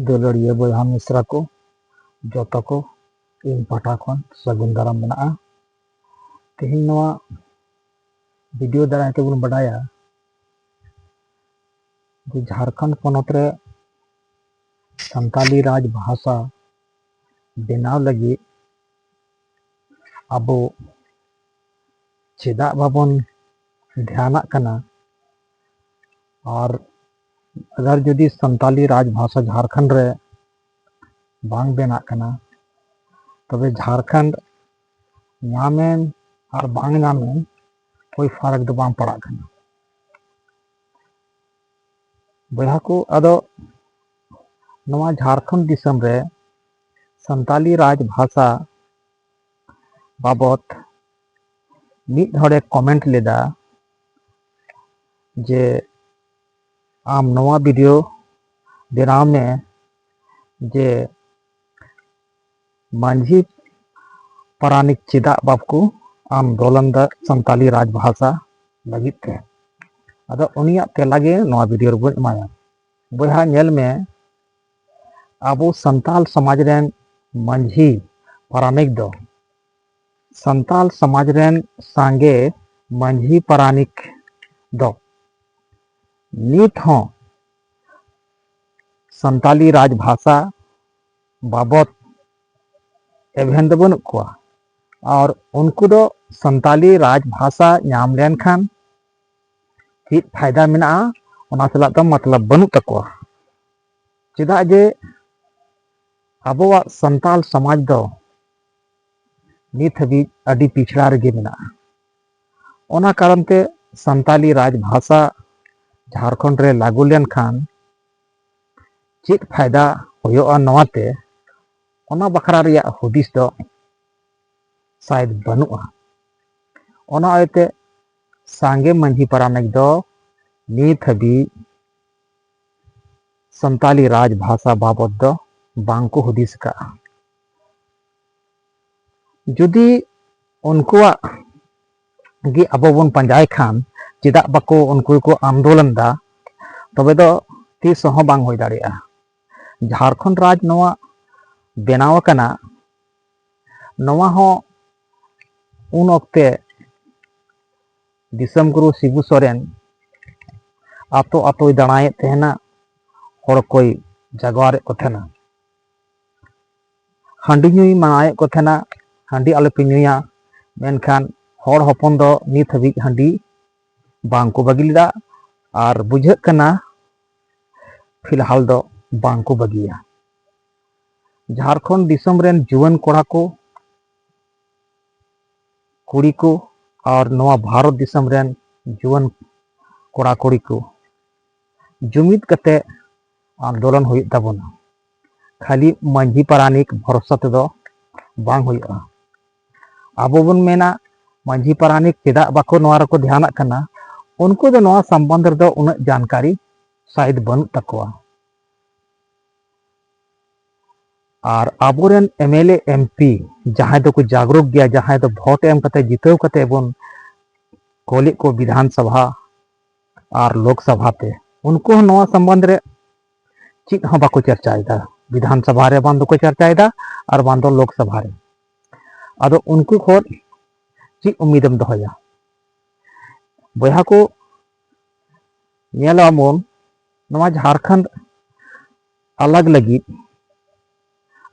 ᱫᱩᱞᱟᱹᱲᱤᱭᱟᱹ ᱵᱚᱭᱦᱟ ᱢᱤᱥᱨᱟ ᱠᱚ ᱡᱚᱛᱚ ᱠᱚ ᱤᱧ ᱯᱟᱦᱴᱟ ᱠᱷᱚᱱ ᱥᱟᱹᱜᱩᱱ ᱫᱟᱨᱟᱢ ᱢᱮᱱᱟᱜᱼᱟ ᱛᱮᱦᱮᱧ ᱱᱚᱣᱟ ᱵᱷᱤᱰᱤᱭᱳ ᱫᱟᱨᱟᱭ ᱛᱮᱵᱚᱱ ᱵᱟᱰᱟᱭᱟ ᱡᱮ ᱡᱷᱟᱲᱠᱷᱚᱸᱰ ᱯᱚᱱᱚᱛ ᱨᱮ ᱥᱟᱱᱛᱟᱞᱤ ᱨᱟᱡᱽ ᱵᱷᱟᱥᱟ ᱵᱮᱱᱟᱣ ᱞᱟᱹᱜᱤᱫ ᱟᱵᱚ ᱪᱮᱫᱟᱜ ᱵᱟᱵᱚᱱ ᱫᱷᱮᱭᱟᱱᱟᱜ ᱠᱟᱱᱟ ᱟᱨ ᱟᱜᱟᱨ ᱡᱩᱫᱤ ᱥᱟᱱᱛᱟᱞᱤ ᱨᱟᱡᱽ ᱵᱷᱟᱥᱟ ᱡᱷᱟᱲᱠᱷᱚᱸᱰ ᱨᱮ ᱵᱟᱝ ᱵᱮᱱᱟᱜ ᱠᱟᱱᱟ ᱛᱚᱵᱮ ᱡᱷᱟᱲᱠᱷᱚᱸᱰ ᱧᱟᱢᱮᱱ ᱟᱨ ᱵᱟᱝ ᱧᱟᱢᱮᱱ ᱠᱳᱭ ᱯᱷᱟᱨᱟᱠ ᱫᱚ ᱵᱟᱝ ᱯᱟᱲᱟᱜ ᱠᱟᱱᱟ ᱵᱚᱭᱦᱟ ᱠᱚ ᱟᱫᱚ ᱱᱚᱣᱟ ᱡᱷᱟᱲᱠᱷᱚᱸᱰ ᱫᱤᱥᱚᱢ ᱨᱮ ᱥᱟᱱᱛᱟᱞᱤ ᱨᱟᱡᱽ ᱵᱷᱟᱥᱟ ᱵᱟᱵᱚᱛ ᱢᱤᱫ ᱦᱚᱲᱮ ᱠᱚᱢᱮᱱᱴ ᱞᱮᱫᱟ ᱡᱮ ᱟᱢ ᱱᱚᱣᱟ ᱵᱷᱤᱰᱤᱭᱳ ᱵᱮᱱᱟᱣ ᱢᱮ ᱡᱮ ᱢᱟᱹᱡᱷᱤ ᱯᱟᱨᱟᱱᱤᱠ ᱪᱮᱫᱟᱜ ᱵᱟᱠᱚ ᱟᱱᱫᱳᱞᱚᱱ ᱫᱟ ᱥᱟᱱᱛᱟᱞᱤ ᱨᱟᱡᱽ ᱵᱷᱟᱥᱟ ᱞᱟᱹᱜᱤᱫ ᱛᱮ ᱟᱫᱚ ᱩᱱᱤᱭᱟᱜ ᱛᱮᱞᱟ ᱜᱮ ᱱᱚᱣᱟ ᱵᱷᱤᱰᱤᱭᱳ ᱨᱮᱵᱚᱱ ᱮᱢᱟᱭᱟ ᱵᱚᱭᱦᱟ ᱧᱮᱞ ᱢᱮ ᱟᱵᱚ ᱥᱟᱱᱛᱟᱞ ᱥᱚᱢᱟᱡᱽ ᱨᱮᱱ ᱢᱟᱹᱡᱷᱤ ᱯᱟᱨᱟᱱᱤᱠ ᱫᱚ ᱥᱟᱱᱛᱟᱞ ᱥᱚᱢᱟᱡᱽ ᱨᱮᱱ ᱥᱟᱸᱜᱮ ᱢᱟᱹᱡᱷᱤ ᱯᱟᱨᱟᱱᱤᱠ ᱫᱚ ᱱᱤᱛ ᱦᱚᱸ ᱥᱟᱱᱛᱟᱞᱤ ᱨᱟᱡᱽ ᱵᱷᱟᱥᱟ ᱵᱟᱵᱚᱛ ᱮᱵᱷᱮᱱ ᱫᱚ ᱵᱟᱹᱱᱩᱜ ᱠᱚᱣᱟ ᱟᱨ ᱩᱱᱠᱩ ᱫᱚ ᱥᱟᱱᱛᱟᱞᱤ ᱨᱟᱡᱽ ᱵᱷᱟᱥᱟ ᱧᱟᱢ ᱞᱮᱱᱠᱷᱟᱱ ᱪᱮᱫ ᱯᱷᱟᱭᱫᱟ ᱢᱮᱱᱟᱜᱼᱟ ᱚᱱᱟ ᱥᱟᱞᱟᱜ ᱫᱚ ᱢᱚᱛᱞᱚᱵ ᱵᱟᱹᱱᱩᱜ ᱛᱟᱠᱚᱣᱟ ᱪᱮᱫᱟᱜ ᱡᱮ ᱟᱵᱚᱣᱟᱜ ᱥᱟᱱᱛᱟᱞ ᱥᱚᱢᱟᱡᱽ ᱫᱚ ᱱᱤᱛ ᱦᱟᱹᱵᱤᱡ ᱟᱹᱰᱤ ᱯᱤᱪᱷᱲᱟ ᱨᱮᱜᱮ ᱢᱮᱱᱟᱜᱼᱟ ᱚᱱᱟ ᱠᱟᱨᱚᱱ ᱛᱮ ᱥᱟᱱᱛᱟᱞᱤ ᱨᱟᱡᱽ ᱵᱷᱟᱥᱟ ᱡᱷᱟᱲᱠᱷᱚᱸᱰ ᱨᱮ ᱞᱟᱹᱜᱩ ᱞᱮᱱᱠᱷᱟᱱ ᱪᱮᱫ ᱯᱷᱟᱭᱫᱟ ᱦᱩᱭᱩᱜᱼᱟ ᱱᱚᱣᱟᱛᱮ ᱚᱱᱟ ᱵᱟᱠᱷᱨᱟ ᱨᱮᱭᱟᱜ ᱦᱩᱫᱤᱥ ᱫᱚ ᱥᱟᱭᱮᱫ ᱵᱟᱹᱱᱩᱜᱼᱟ ᱚᱱᱟ ᱤᱭᱟᱹᱛᱮ ᱥᱟᱸᱜᱮ ᱢᱟᱹᱡᱷᱤ ᱯᱟᱨᱟᱱᱤᱠ ᱫᱚ ᱱᱤᱛ ᱦᱟᱹᱵᱤᱡ ᱥᱟᱱᱛᱟᱞᱤ ᱨᱟᱡᱽ ᱵᱷᱟᱥᱟ ᱵᱟᱵᱚᱫ ᱫᱚ ᱵᱟᱝᱠᱚ ᱦᱩᱫᱤᱥ ᱠᱟᱜᱼᱟ ᱡᱩᱫᱤ ᱩᱱᱠᱩᱣᱟᱜ ᱜᱮ ᱟᱵᱚ ᱵᱚᱱ ᱯᱟᱸᱡᱟᱭ ᱠᱷᱟᱱ ᱪᱮᱫᱟᱜ ᱵᱟᱠᱚ ᱩᱱᱠᱩ ᱠᱚ ᱟᱱᱫᱳᱞᱚᱱ ᱫᱟ ᱛᱚᱵᱮ ᱫᱚ ᱛᱤᱥ ᱦᱚᱸ ᱵᱟᱝ ᱦᱩᱭ ᱫᱟᱲᱮᱭᱟᱜᱼᱟ ᱡᱷᱟᱲᱠᱷᱚᱸᱰ ᱨᱟᱡᱽ ᱱᱚᱣᱟ ᱵᱮᱱᱟᱣ ᱟᱠᱟᱱᱟ ᱱᱚᱣᱟ ᱦᱚᱸ ᱩᱱ ᱚᱠᱛᱮ ᱫᱤᱥᱚᱢ ᱜᱩᱨᱩ ᱥᱤᱵᱩ ᱥᱚᱨᱮᱱ ᱟᱛᱳ ᱟᱛᱳᱭ ᱫᱟᱬᱟᱭᱮᱫ ᱛᱟᱦᱮᱱᱟ ᱦᱚᱲ ᱠᱚᱭ ᱡᱟᱜᱣᱟᱨᱮᱫ ᱠᱚ ᱛᱟᱦᱮᱱᱟ ᱦᱟᱺᱰᱤ ᱧᱩᱭ ᱢᱟᱱᱟᱣᱮᱫ ᱠᱚ ᱛᱟᱦᱮᱱᱟ ᱦᱟᱺᱰᱤ ᱟᱞᱚᱯᱮ ᱧᱩᱭᱟ ᱢᱮᱱᱠᱷᱟᱱ ᱦᱚᱲ ᱦᱚᱯᱚᱱ ᱫᱚ ᱱᱤᱛ ᱦᱟᱹᱵᱤᱡ ᱦᱟᱺᱰᱤ ᱵᱟᱝᱠᱚ ᱵᱟᱹᱜᱤ ᱞᱮᱫᱟ ᱟᱨ ᱵᱩᱡᱷᱟᱹᱜ ᱠᱟᱱᱟ ᱯᱷᱤᱞᱦᱟᱞ ᱫᱚ ᱵᱟᱝᱠᱚ ᱵᱟᱹᱜᱤᱭᱟ ᱡᱷᱟᱲᱠᱷᱚᱸᱰ ᱫᱤᱥᱚᱢ ᱨᱮᱱ ᱡᱩᱣᱟᱹᱱ ᱠᱚᱲᱟ ᱠᱚ ᱠᱩᱲᱤ ᱠᱚ ᱟᱨ ᱱᱚᱣᱟ ᱵᱷᱟᱨᱚᱛ ᱫᱤᱥᱚᱢ ᱨᱮᱱ ᱡᱩᱣᱟᱹᱱ ᱠᱚᱲᱟ ᱠᱩᱲᱤ ᱠᱚ ᱡᱩᱢᱤᱫ ᱠᱟᱛᱮ ᱟᱱᱫᱳᱞᱚᱱ ᱦᱩᱭᱩᱜ ᱛᱟᱵᱚᱱᱟ ᱠᱷᱟᱹᱞᱤ ᱢᱟᱹᱡᱷᱤ ᱯᱟᱨᱟᱱᱤᱠ ᱵᱷᱚᱨᱥᱟ ᱛᱮᱫᱚ ᱵᱟᱝ ᱦᱩᱭᱩᱜᱼᱟ ᱟᱵᱚ ᱵᱚᱱ ᱢᱮᱱᱟ ᱢᱟᱹᱡᱷᱤ ᱯᱟᱨᱟᱱᱤᱠ ᱪᱮᱫᱟᱜ ᱵᱟᱠᱚ ᱱᱚᱣᱟ ᱨᱮᱠᱚ ᱫᱷᱮᱭᱟᱱᱟᱜ ᱠᱟᱱᱟ ᱩᱱᱠᱩ ᱫᱚ ᱱᱚᱣᱟ ᱥᱚᱢᱵᱚᱱᱫᱷ ᱨᱮᱫᱚ ᱩᱱᱟᱹᱜ ᱡᱟᱱᱠᱟᱨᱤ ᱥᱟᱭᱤᱫ ᱵᱟᱹᱱᱩᱜ ᱛᱟᱠᱚᱣᱟ ᱟᱨ ᱟᱵᱚᱨᱮᱱ M L A M P ᱡᱟᱦᱟᱸᱭ ᱫᱚᱠᱚ ᱡᱟᱜᱽᱨᱚᱠ ᱜᱮᱭᱟ ᱡᱟᱦᱟᱸᱭ ᱫᱚ ᱵᱷᱳᱴ ᱮᱢ ᱠᱟᱛᱮ ᱡᱤᱛᱟᱹᱣ ᱠᱟᱛᱮ ᱵᱚᱱ ᱠᱚᱞᱮᱫ ᱠᱚ ᱵᱤᱫᱷᱟᱱ ᱥᱚᱵᱷᱟ ᱟᱨ ᱞᱳᱠ ᱥᱚᱵᱷᱟ ᱛᱮ ᱩᱱᱠᱩ ᱦᱚᱸ ᱱᱚᱣᱟ ᱥᱚᱢᱵᱚᱱᱫᱷ ᱨᱮ ᱪᱮᱫ ᱦᱚᱸ ᱵᱟᱠᱚ ᱪᱟᱨᱪᱟᱭᱮᱫᱟ ᱵᱤᱫᱷᱟᱱ ᱥᱚᱵᱷᱟ ᱨᱮ ᱵᱟᱝ ᱫᱚᱠᱚ ᱪᱟᱨᱪᱟᱭᱮᱫᱟ ᱟᱨ ᱵᱟᱝ ᱫᱚ ᱞᱳᱠ ᱥᱚᱵᱷᱟ ᱨᱮ ᱟᱫᱚ ᱩᱱᱠᱩ ᱠᱷᱚᱱ ᱪᱮᱫ ᱩᱢᱤᱫᱮᱢ ᱫᱚᱦᱚᱭᱟ ᱵᱚᱭᱦᱟ ᱠᱚ ᱧᱮᱞᱟᱵᱚᱱ ᱱᱚᱣᱟ ᱡᱷᱟᱲᱠᱷᱚᱸᱰ ᱟᱞᱟᱜᱽ ᱞᱟᱹᱜᱤᱫ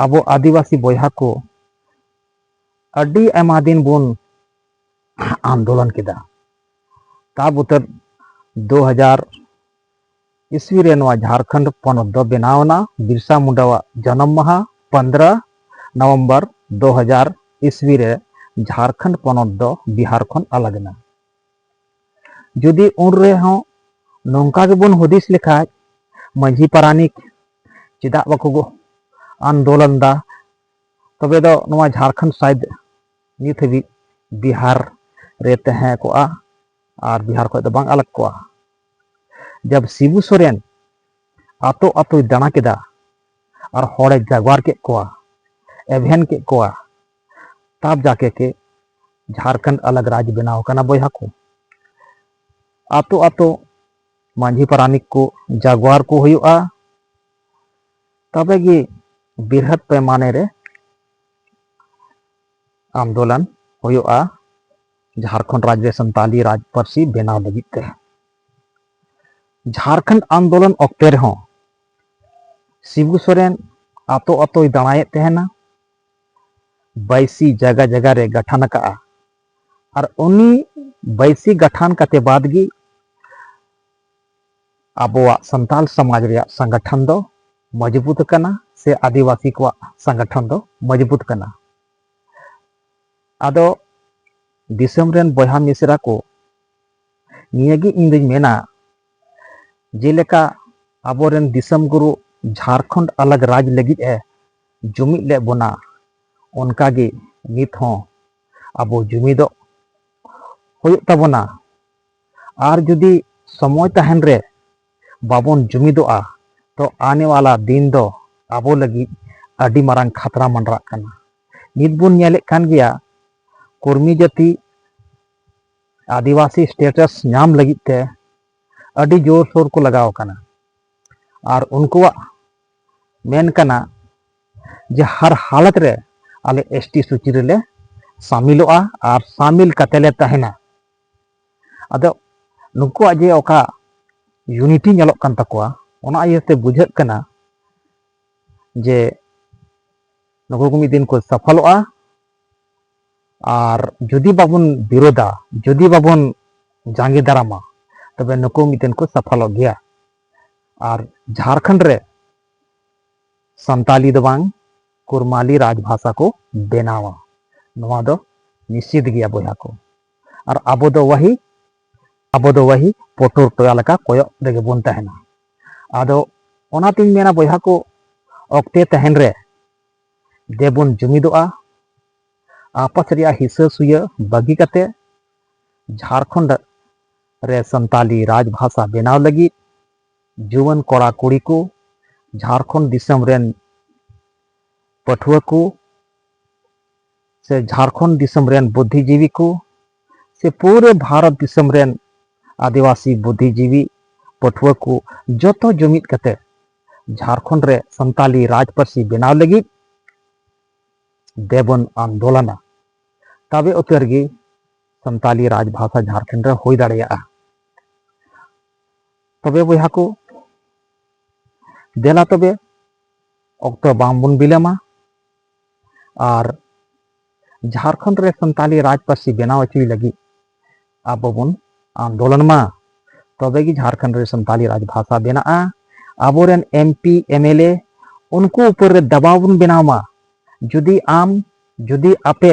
ᱟᱵᱚ ᱟᱹᱫᱤᱵᱟᱹᱥᱤ ᱵᱚᱭᱦᱟ ᱠᱚ ᱟᱹᱰᱤ ᱟᱭᱢᱟ ᱫᱤᱱ ᱵᱚᱱ ᱟᱱᱫᱳᱞᱚᱱ ᱠᱮᱫᱟ ᱛᱟ ᱵᱩᱛᱟᱹᱨ ᱫᱩ ᱦᱟᱡᱟᱨ ᱤᱥᱣᱤ ᱨᱮ ᱱᱚᱣᱟ ᱡᱷᱟᱲᱠᱷᱚᱸᱰ ᱯᱚᱱᱚᱛ ᱫᱚ ᱵᱮᱱᱟᱣᱱᱟ ᱵᱤᱨᱥᱟ ᱢᱩᱱᱰᱟᱣᱟᱜ ᱡᱚᱱᱚᱢ ᱢᱟᱦᱟ ᱯᱚᱱᱫᱨᱚ ᱱᱚᱵᱷᱮᱢᱵᱚᱨ ᱫᱩ ᱦᱟᱡᱟᱨ ᱤᱥᱣᱤ ᱨᱮ ᱡᱷᱟᱲᱠᱷᱚᱸᱰ ᱯᱚᱱᱚᱛ ᱫᱚ ᱵᱤᱦᱟᱨ ᱠᱷᱚᱱ ᱟᱞᱟᱜᱽ ᱮᱱᱟ ᱡᱩᱫᱤ ᱩᱱ ᱨᱮᱦᱚᱸ ᱱᱚᱝᱠᱟ ᱜᱮᱵᱚᱱ ᱦᱩᱫᱤᱥ ᱞᱮᱠᱷᱟᱡ ᱢᱟᱺᱡᱷᱤ ᱯᱟᱨᱟᱱᱤᱠ ᱪᱮᱫᱟᱜ ᱵᱟᱠᱚ ᱟᱱᱫᱳᱞᱚᱱ ᱫᱟ ᱛᱚᱵᱮ ᱫᱚ ᱱᱚᱣᱟ ᱡᱷᱟᱲᱠᱷᱚᱸᱰ ᱥᱟᱭᱤᱰ ᱱᱤᱛ ᱦᱟᱹᱵᱤᱡ ᱵᱤᱦᱟᱨ ᱨᱮ ᱛᱟᱦᱮᱸ ᱠᱚᱜᱼᱟ ᱟᱨ ᱵᱤᱦᱟᱨ ᱠᱷᱚᱡ ᱫᱚ ᱵᱟᱝ ᱟᱞᱟᱜ ᱠᱚᱜᱼᱟ ᱡᱟᱵ ᱥᱤᱵᱩ ᱥᱚᱨᱮᱱ ᱟᱛᱳ ᱟᱛᱳᱭ ᱫᱟᱬᱟ ᱠᱮᱫᱟ ᱟᱨ ᱦᱚᱲᱮ ᱡᱟᱜᱣᱟᱨ ᱠᱮᱫ ᱠᱚᱣᱟ ᱮᱵᱷᱮᱱ ᱠᱮᱫ ᱠᱚᱣᱟ ᱛᱟᱵ ᱡᱟᱠᱮ ᱠᱮ ᱡᱷᱟᱨᱠᱷᱚᱸᱰ ᱟᱞᱟᱜ ᱨᱟᱡᱽ ᱵᱮᱱᱟᱣ ᱠᱟᱱᱟ ᱵᱚᱭᱦᱟ ᱠᱚ ᱟᱛᱳ ᱟᱛᱳ ᱢᱟᱹᱡᱷᱤ ᱯᱟᱨᱟᱱᱤᱠ ᱠᱚ ᱡᱟᱜᱣᱟᱨ ᱠᱚ ᱦᱩᱭᱩᱜᱼᱟ ᱛᱚᱵᱮ ᱜᱮ ᱵᱤᱨᱦᱟᱹᱛ ᱯᱮᱢᱟᱱᱮ ᱨᱮ ᱟᱱᱫᱳᱞᱚᱱ ᱦᱩᱭᱩᱜᱼᱟ ᱡᱷᱟᱨᱠᱷᱚᱸᱰ ᱨᱟᱡᱽ ᱨᱮ ᱥᱟᱱᱛᱟᱞᱤ ᱨᱟᱡᱽ ᱯᱟᱹᱨᱥᱤ ᱵᱮᱱᱟᱣ ᱞᱟᱹᱜᱤᱫ ᱛᱮ ᱡᱷᱟᱨᱠᱷᱚᱸᱰ ᱟᱱᱫᱳᱞᱚᱱ ᱚᱠᱛᱮ ᱨᱮᱦᱚᱸ ᱥᱤᱵᱩ ᱥᱚᱨᱮᱱ ᱟᱛᱳ ᱟᱛᱳᱭ ᱫᱟᱬᱟᱭᱮᱫ ᱛᱟᱦᱮᱱᱟ ᱵᱟᱭᱥᱤ ᱡᱟᱜᱟ ᱡᱟᱜᱟ ᱨᱮ ᱜᱟᱴᱷᱟᱱ ᱟᱠᱟᱜᱼᱟ ᱟᱨ ᱩᱱᱤ ᱵᱟᱭᱥᱤ ᱜᱟᱴᱷᱟᱱ ᱠᱟᱛᱮ ᱵᱟᱫ ᱜᱮ ᱟᱵᱚᱣᱟᱜ ᱥᱟᱱᱛᱟᱞ ᱥᱚᱢᱟᱡᱽ ᱨᱮᱭᱟᱜ ᱥᱚᱝᱜᱚᱴᱷᱚᱱ ᱫᱚ ᱢᱚᱡᱽᱵᱩᱛ ᱟᱠᱟᱱᱟ ᱥᱮ ᱟᱹᱫᱤᱵᱟᱹᱥᱤ ᱠᱚᱣᱟᱜ ᱥᱚᱝᱜᱚᱴᱷᱚᱱ ᱫᱚ ᱢᱚᱡᱽᱵᱩᱛ ᱠᱟᱱᱟ ᱟᱫᱚ ᱫᱤᱥᱚᱢ ᱨᱮᱱ ᱵᱚᱭᱦᱟ ᱢᱤᱥᱨᱟ ᱠᱚ ᱱᱤᱭᱟᱹ ᱜᱮ ᱤᱧ ᱫᱚᱧ ᱢᱮᱱᱟ ᱡᱮᱞᱮᱠᱟ ᱟᱵᱚᱨᱮᱱ ᱫᱤᱥᱚᱢ ᱜᱩᱨᱩ ᱡᱷᱟᱨᱠᱷᱚᱸᱰ ᱟᱞᱟᱜᱽ ᱨᱟᱡᱽ ᱞᱟᱹᱜᱤᱫ ᱮ ᱡᱩᱢᱤᱫ ᱞᱮᱫ ᱵᱚᱱᱟ ᱚᱱᱠᱟᱜᱮ ᱱᱤᱛ ᱦᱚᱸ ᱟᱵᱚ ᱡᱩᱢᱤᱫᱚᱜ ᱦᱩᱭᱩᱜ ᱛᱟᱵᱚᱱᱟ ᱟᱨ ᱡᱩᱫᱤ ᱥᱚᱢᱚᱭ ᱛᱟᱦᱮᱱ ᱨᱮ ᱵᱟᱵᱚᱱ ᱡᱩᱢᱤᱫᱚᱜᱼᱟ ᱛᱚ ᱟᱱᱮ ᱣᱟᱞᱟ ᱫᱤᱱ ᱫᱚ ᱟᱵᱚ ᱞᱟᱹᱜᱤᱫ ᱟᱹᱰᱤ ᱢᱟᱨᱟᱝ ᱠᱷᱟᱛᱨᱟ ᱢᱟᱸᱰᱨᱟᱜ ᱠᱟᱱᱟ ᱱᱤᱛ ᱵᱚᱱ ᱧᱮᱞᱮᱫ ᱠᱟᱱ ᱜᱮᱭᱟ ᱠᱚᱨᱢᱤ ᱡᱟᱹᱛᱤ ᱟᱹᱫᱤᱵᱟᱹᱥᱤ ᱥᱴᱮᱴᱟᱥ ᱧᱟᱢ ᱞᱟᱹᱜᱤᱫ ᱛᱮ ᱟᱹᱰᱤ ᱡᱳᱨᱥᱳᱨ ᱠᱚ ᱞᱟᱜᱟᱣ ᱟᱠᱟᱱᱟ ᱟᱨ ᱩᱱᱠᱩᱣᱟᱜ ᱢᱮᱱ ᱠᱟᱱᱟ ᱡᱮ ᱦᱟᱨ ᱦᱟᱞᱚᱛ ᱨᱮ ᱟᱞᱮ ᱮᱥ ᱴᱤ ᱥᱩᱪᱤ ᱨᱮᱞᱮ ᱥᱟᱢᱤᱞᱚᱜᱼᱟ ᱟᱨ ᱥᱟᱢᱤᱞ ᱠᱟᱛᱮ ᱞᱮ ᱛᱟᱦᱮᱱᱟ ᱟᱫᱚ ᱱᱩᱠᱩᱣᱟᱜ ᱡᱮ ᱚᱠᱟ ᱭᱩᱱᱤᱴᱤ ᱧᱮᱞᱚᱜ ᱠᱟᱱ ᱛᱟᱠᱚᱣᱟ ᱚᱱᱟ ᱤᱭᱟᱹᱛᱮ ᱵᱩᱡᱷᱟᱹᱜ ᱠᱟᱱᱟ ᱡᱮ ᱱᱩᱠᱩ ᱠᱚ ᱢᱤᱫ ᱫᱤᱱ ᱠᱚ ᱥᱟᱯᱷᱚᱞᱚᱜᱼᱟ ᱟᱨ ᱡᱩᱫᱤ ᱵᱟᱵᱚᱱ ᱵᱤᱨᱳᱫᱟ ᱡᱩᱫᱤ ᱵᱟᱵᱚᱱ ᱡᱟᱸᱜᱮ ᱫᱟᱨᱟᱢᱟ ᱛᱚᱵᱮ ᱱᱩᱠᱩ ᱢᱤᱫ ᱫᱤᱱ ᱠᱚ ᱥᱟᱯᱷᱚᱞᱚᱜ ᱜᱮᱭᱟ ᱟᱨ ᱡᱷᱟᱲᱠᱷᱚᱸᱰ ᱨᱮ ᱥᱟᱱᱛᱟᱞᱤ ᱫᱚ ᱵᱟᱝ ᱠᱩᱨᱢᱟᱞᱤ ᱨᱟᱡᱽ ᱵᱷᱟᱥᱟ ᱠᱚ ᱵᱮᱱᱟᱣᱟ ᱱᱚᱣᱟ ᱫᱚ ᱱᱤᱥᱪᱤᱛ ᱜᱮᱭᱟ ᱵᱚᱭᱦᱟ ᱠᱚ ᱟᱨ ᱟᱵᱚ ᱫᱚ ᱣᱟᱦᱤ ᱟᱵᱚ ᱫᱚ ᱣᱟᱦᱤ ᱯᱚᱴᱚᱨ ᱴᱚᱭᱟ ᱞᱮᱠᱟ ᱠᱚᱭᱚᱜ ᱨᱮᱜᱮ ᱵᱚᱱ ᱛᱟᱦᱮᱱᱟ ᱟᱫᱚ ᱚᱱᱟᱛᱤᱧ ᱢᱮᱱᱟ ᱵᱚᱭᱦᱟ ᱠᱚ ᱚᱠᱛᱮ ᱛᱟᱦᱮᱱ ᱨᱮ ᱫᱮᱵᱚᱱ ᱡᱩᱢᱤᱫᱚᱜᱼᱟ ᱟᱯᱟᱥ ᱨᱮᱭᱟᱜ ᱦᱤᱥᱟᱹ ᱥᱩᱭᱟᱹ ᱵᱟᱹᱜᱤ ᱠᱟᱛᱮ ᱡᱷᱟᱲᱠᱷᱚᱸᱰ ᱨᱮ ᱥᱟᱱᱛᱟᱞᱤ ᱨᱟᱡᱽ ᱵᱷᱟᱥᱟ ᱵᱮᱱᱟᱣ ᱞᱟᱹᱜᱤᱫ ᱡᱩᱣᱟᱹᱱ ᱠᱚᱲᱟ ᱠᱩᱲᱤ ᱠᱚ ᱡᱷᱟᱲᱠᱷᱚᱸᱰ ᱫᱤᱥᱚᱢ ᱨᱮᱱ ᱯᱟᱹᱴᱷᱩᱣᱟᱹ ᱠᱚ ᱥᱮ ᱡᱷᱟᱲᱠᱷᱚᱸᱰ ᱫᱤᱥᱚᱢ ᱨᱮᱱ ᱵᱩᱫᱽᱫᱷᱤᱡᱤᱵᱤ ᱠᱚ ᱥᱮ ᱯᱩᱨᱟᱹ ᱵᱷᱟᱨᱚᱛ ᱫᱤᱥᱚᱢ ᱨᱮᱱ ᱟᱹᱫᱤᱵᱟᱹᱥᱤ ᱵᱩᱫᱽᱫᱷᱤᱡᱤᱵᱤ ᱯᱟᱹᱴᱷᱩᱣᱟᱹ ᱠᱚ ᱡᱚᱛᱚ ᱡᱩᱢᱤᱫ ᱠᱟᱛᱮ ᱡᱷᱟᱲᱠᱷᱚᱸᱰ ᱨᱮ ᱥᱟᱱᱛᱟᱞᱤ ᱨᱟᱡᱽ ᱯᱟᱹᱨᱥᱤ ᱵᱮᱱᱟᱣ ᱞᱟᱹᱜᱤᱫ ᱫᱮᱵᱚᱱ ᱟᱱᱫᱳᱞᱚᱱᱟ ᱛᱚᱵᱮ ᱩᱛᱟᱹᱨ ᱜᱮ ᱥᱟᱱᱛᱟᱞᱤ ᱨᱟᱡᱽ ᱵᱷᱟᱥᱟ ᱡᱷᱟᱲᱠᱷᱚᱸᱰ ᱨᱮ ᱦᱩᱭ ᱫᱟᱲᱮᱭᱟᱜᱼᱟ ᱛᱚᱵᱮ ᱵᱚᱭᱦᱟ ᱠᱚ ᱫᱮᱞᱟ ᱛᱚᱵᱮ ᱚᱠᱛᱚ ᱵᱟᱝᱵᱚᱱ ᱵᱤᱞᱚᱢᱟ ᱟᱨ ᱡᱷᱟᱲᱠᱷᱚᱸᱰ ᱨᱮ ᱥᱟᱱᱛᱟᱞᱤ ᱨᱟᱡᱽ ᱯᱟᱹᱨᱥᱤ ᱵᱮᱱᱟᱣ ᱦᱚᱪᱚᱭ ᱞᱟᱹᱜᱤᱫ ᱟᱵᱚ ᱵᱚᱱ ᱟᱱᱫᱳᱞᱚᱱ ᱢᱟ ᱛᱚᱵᱮ ᱜᱮ ᱡᱷᱟᱲᱠᱷᱚᱸᱰ ᱨᱮ ᱥᱟᱱᱛᱟᱞᱤ ᱨᱟᱡᱽ ᱵᱷᱟᱥᱟ ᱵᱮᱱᱟᱜᱼᱟ ᱟᱵᱚᱨᱮᱱ M P M L A ᱩᱱᱠᱩ ᱩᱯᱚᱨ ᱨᱮ ᱫᱟᱵᱟᱣ ᱵᱚᱱ ᱵᱮᱱᱟᱣ ᱢᱟ ᱡᱩᱫᱤ ᱟᱢ ᱡᱩᱫᱤ ᱟᱯᱮ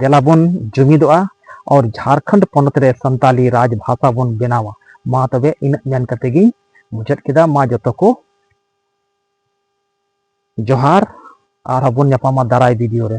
ᱫᱮᱞᱟ ᱵᱚᱱ ᱡᱩᱢᱤᱫᱚᱜᱼᱟ ᱟᱨ ᱡᱷᱟᱨᱠᱷᱚᱸᱰ ᱯᱚᱱᱚᱛ ᱨᱮ ᱥᱟᱱᱛᱟᱞᱤ ᱨᱟᱡᱽ ᱵᱷᱟᱥᱟ ᱵᱚᱱ ᱵᱮᱱᱟᱣᱟ ᱢᱟ ᱛᱚᱵᱮ ᱤᱱᱟᱹᱜ ᱢᱮᱱ ᱠᱟᱛᱮ ᱜᱤᱧ ᱢᱩᱪᱟᱹᱫ ᱠᱮᱫᱟ ᱢᱟ ᱡᱚᱛᱚ ᱠᱚ ᱡᱚᱦᱟᱨ ᱟᱨ ᱵᱚᱱ ᱧᱟᱯᱟᱢᱟ ᱫᱟᱨᱟᱭ ᱵᱷᱤᱰᱤᱭᱳ ᱨᱮ